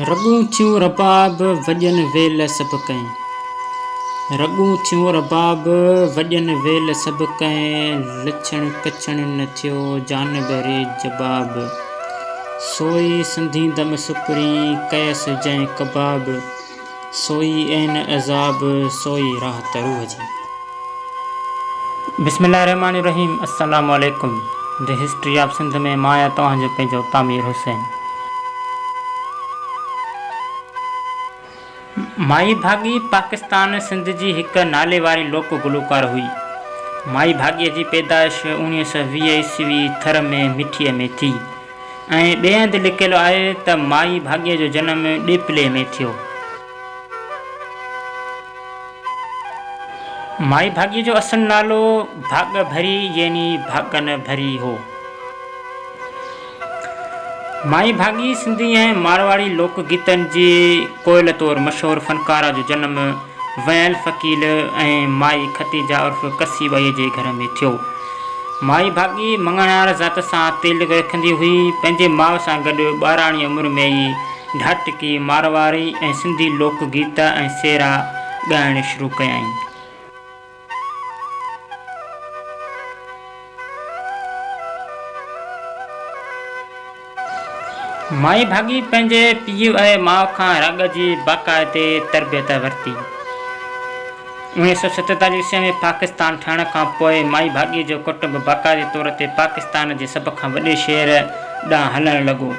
رڳون ٿيون رباب وڄن ويل سڀ ڪئين. رڳون ٿيون رباب وڄن ويل سڀ ڪئين. لڇڻ ڪڇڻ نه ٿيو جان ٻهري جباب. سوئي سنڌيندم سڪرين ڪيس جئين ڪباب. سوئي اين عذاب سوئي راحت روح جي. بسم الله الرحمٰن الرحيم السلام عليڪم The History of Sindh ۾ مان آهيان توهان جو پنهنجو تعمير حسين. مائي ڀاڳي پاڪستان سنڌ جي هڪ ناليواري لوڪ گلوڪار هئي. مائي ڀاڳي جي پيدائش اوڻيهه سؤ ويهه عيسوي ٿر ۾ مٺي ۾ ٿي. ۽ ٻئي هنڌ لکيل آهي ته مائي ڀاڳيء جو جنم ڏيپلي ۾ ٿيو. مائي ڀاڳيء جو اصل نالو ڀاڳ ڀري يعني ڀاڳن ڀري هو. مائي ڀاڳي سنڌي ۽ مارواڙي لوڪ گيتن جي ڪوئل طور مشهور فنڪاره جو جنم ويل فقيل ۽ مائي ختيجه عرف ڪسي ٻئي جي گهر ۾ ٿيو. مائي ڀاڳي مڱڻهار ذات سان تعلق رکندي هئي. پنهنجي ماء سان گڏ ٻاراڻي عمر ۾ ئي ڍاٽڪي، مارواري ۽ سنڌي لوڪ گيت ۽ سيرا ڳائڻ شروع ڪيائين. مائي ڀاڳي پنهنجي پيء ۽ ماء کان راڳ جي باقاعدي تربيت ورتي. اوڻيهه سؤ ستيتاليهه عيسوي ۾ پاڪستان ٺهڻ کان پوء مائي ڀاڳي جو ڪٽنب باقاعدي طور تي پاڪستان جي سڀ کان وڏي شهر ڏانهن هلڻ لڳو.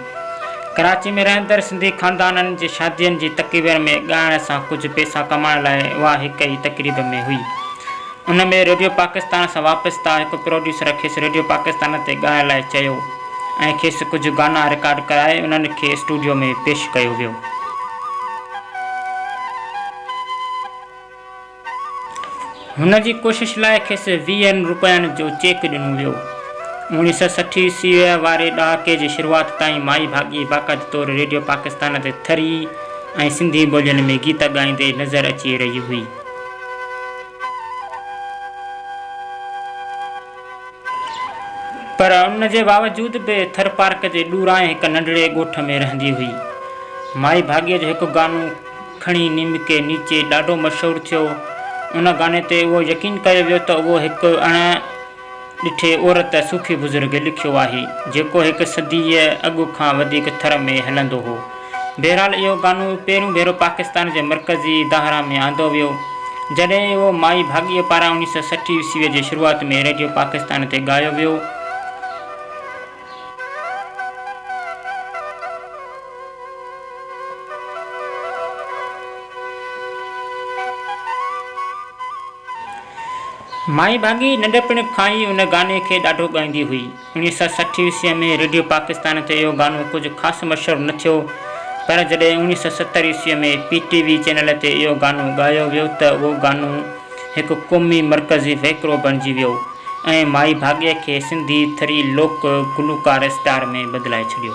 ڪراچي ۾ رهندڙ سنڌي خاندانن جي شادين جي تقريبن ۾ ڳائڻ سان ڪجهه پئسا ڪمائڻ لاء اها هڪ ئي تقريب ۾ هئي. ان ۾ ريڊيو پاڪستان سان وابسته هڪ پروڊيوسر کيس ريڊيو پاڪستان تي ڳائڻ لاء چيو ۽ کيس ڪجهه گانا رڪارڊ ڪرائي انهن کي اسٽوڊيو ۾ پيش ڪيو ويو. هن جي ڪوشش لاء کيس ويهن روپين جو چيڪ ڏنو ويو. اوڻيهه سؤ سٺ عيسويء واري ڏهاڪي جي شروعات تائين مائي ڀاڳي باقاعدي طور ريڊيو پاڪستان تي ٿري ۽ سنڌي ٻولين ۾ گيت ڳائيندي نظر اچي رهي هئي. پر ان جي باوجود به ٿر پارڪ جي ڏورانهين هڪ ننڍڙي ڳوٺ ۾ رهندي هئي. مائي ڀاڳيء جو هڪ گانو کڻي نيم ڪي نيچي ڏاڍو مشهور ٿيو. ان گاني تي اهو يقين ڪيو ويو ته اهو هڪ اڻ ڏٺي عورت صوفي بزرگ لکيو آهي، جيڪو هڪ صديء اڳ کان وڌيڪ ٿر ۾ هلندو هو. بهرحال اهو قانون پهريون ڀيرو پاڪستان جي مرڪزي دانهران ۾ آندو ويو، جڏهن اهو مائي ڀاڳيء پاران اڻيهه سؤ سٺ عيسويء جي شروعات ۾ ريڊيو پاڪستان تي ڳايو ويو. مائي ڀاڳي ننڍپڻ کان ئي ان گاني کي ڏاڍو ڳائيندي هئي. انيس سئو سٺ عيسويء ۾ ريڊيو پاڪستان تي اهو گانو ڪجهه خاص مشهور نه ٿيو پر جڏهن انيس سئو ستر عيسويء ۾ پي ٽي وي چينل تي اهو گانو ڳايو ويو ته اهو گانو هڪ قومي مرڪزي وهڪرو بڻجي ويو ۽ مائي ڀاڳيء کي سنڌي ٿري لوڪ گلوڪار اسٽار ۾ بدلائي ڇڏيو.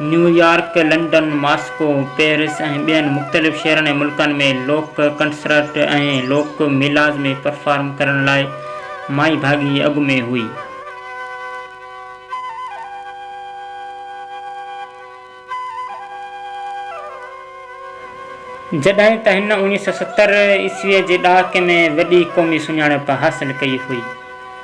نيويارڪ، لنڊن، ماسڪو، پئرس ۽ ٻين مختلف شهرن ۽ ملڪن ۾ لوڪ ڪنسرٽ ۽ لوڪ ميلاز ۾ پرفارم ڪرڻ لاء مائي ڀاڳي اڳ ۾ هئي. جڏهن ته هن اوڻيهه سؤ ستر عيسويء جي ڏهاڪي ۾ وڏي قومي سڃاڻپ حاصل ڪئي هئي.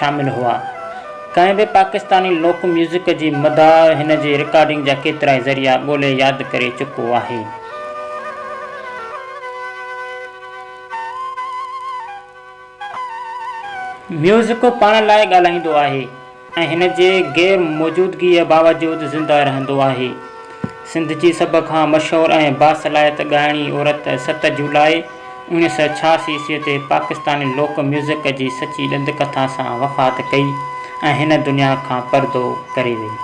شامل هئا. ڪنهن به پاڪستاني لوڪ ميوزڪ جي مداح هن جي رڪارڊنگ جا ڪيترائي ذريعا ڳولي ياد ڪري چڪو آهي. ميوزڪ پاڻ لاء ڳالهائيندو آهي ۽ هن جي غير موجودگيء باوجود زنده رهندو آهي. سنڌ جي سڀ کان مشهور ۽ باصلاحيت ڳائڻي عورت ست جولاء، انهيء سؤ ڇهاسي عيسويء تي پاڪستاني لوڪ ميوزڪ جي سچي ڏند ڪٿا سان وفات ڪئي ۽ هن دنيا کان پردو ڪري وئي.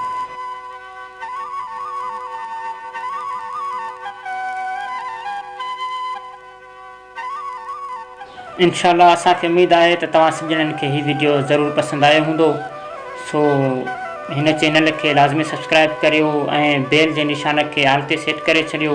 انشاء الله اسان کي اميد آهي ته توهان سڄڻن کي هي ويڊيو ضرور پسند آيو هوندو سو هن چينل کي لازمي سبسڪرائيب ڪريو ۽ بيل جي نشان کي آل تي سيٽ ڪري ڇڏيو.